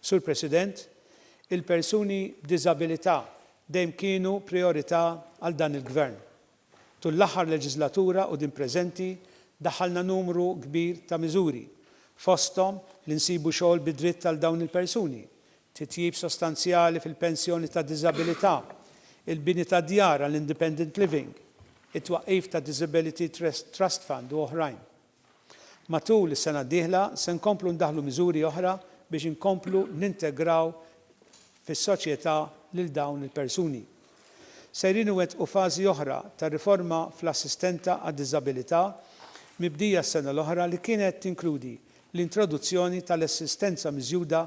Sur President, il-persuni b'diżabilità dejjem kienu prijorità għal dan il-Gvern. Tul l-aħħar leġiżlatura u din preżenti daħħalna numru kbir ta' miżuri, fosthom li nsibu xogħol bi dritt għal dawn il-persuni, titjib sostanzjali fil-pensjoni ta' diżabilità, il-bini ta' djar għal independent living, it-twaqqif ta' Disability Trust Fund u oħrajn. Matul is-sena d-dieħla se nkomplu ndaħħlu miżuri oħra biex inkomplu nintegraw fis-soċjetà lil dawn il-persuni. Sejrin iwettqu fażi oħra ta' riforma fl-assistenta għad-diżabilità mibdija s-sena l-oħra li kienet tinkludi l-introduzzjoni tal-assistenza miżjuda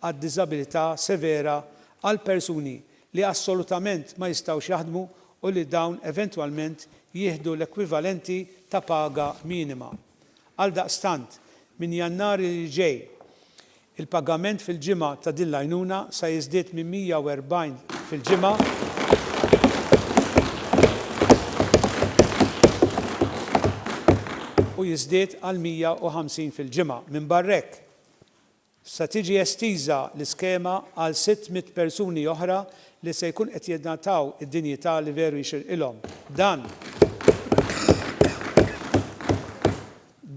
għad-diżabilità severa għal persuni li assolutament ma jistgħux jaħdmu u li dawn eventwalment jieħdu l-ekwivalenti ta' paga minima. Għaldaqstant, minn Jannar li ġej, il-pagament fil-ġimgħa ta' din l-għajnuna sa jiżdied minn 140 fil-ġimgħa, u jiżdied għal 150 fil-ġimgħa. Minbarra hekk, se tiġi estiża l-iskema għal 600 persuni oħra li se jkun qed jingħataw id-dinjità li veru jixirqilhom. Dan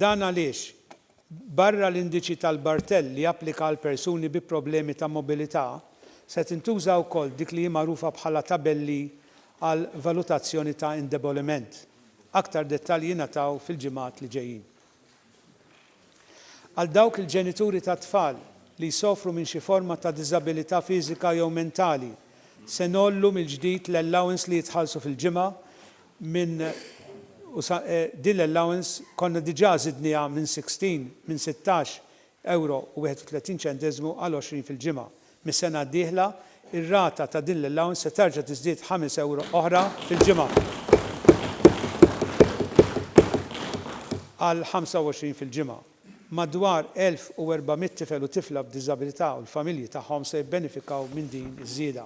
Dan għaliex, barra l-indiċi tal-Barthel li japplika għal persuni bi problemi ta' mobilità, se tintuża wkoll dik li hi magħrufa bħala tabelli għal valutazzjoni ta' indeboliment. Aktar dettalji jingħataw fil-ġimgħat li ġejjin. Għal dawk il-ġenituri ta' tfal li jsofru minn xi forma ta' diżabilità fiżika jew mentali, se ngħollu mill-ġdid l-allowance li jitħallsu fil-ġimgħa minn u sa, din l-allowance konna diġà żidnieha minn 16, minn sittax, euro u 31 ċenteżmu għal 20 fil-ġimgħa. Mis-sena d-dieħla, ir-rata ta' din l-allowance se terġa' tiżdied ħames euro oħra fil-ġimgħa għal 25 fil-ġimgħa. Madwar 1,400 tifel u tifla b'diżabilità u l-familji tagħhom se jibbenefikaw minn din iż-żieda.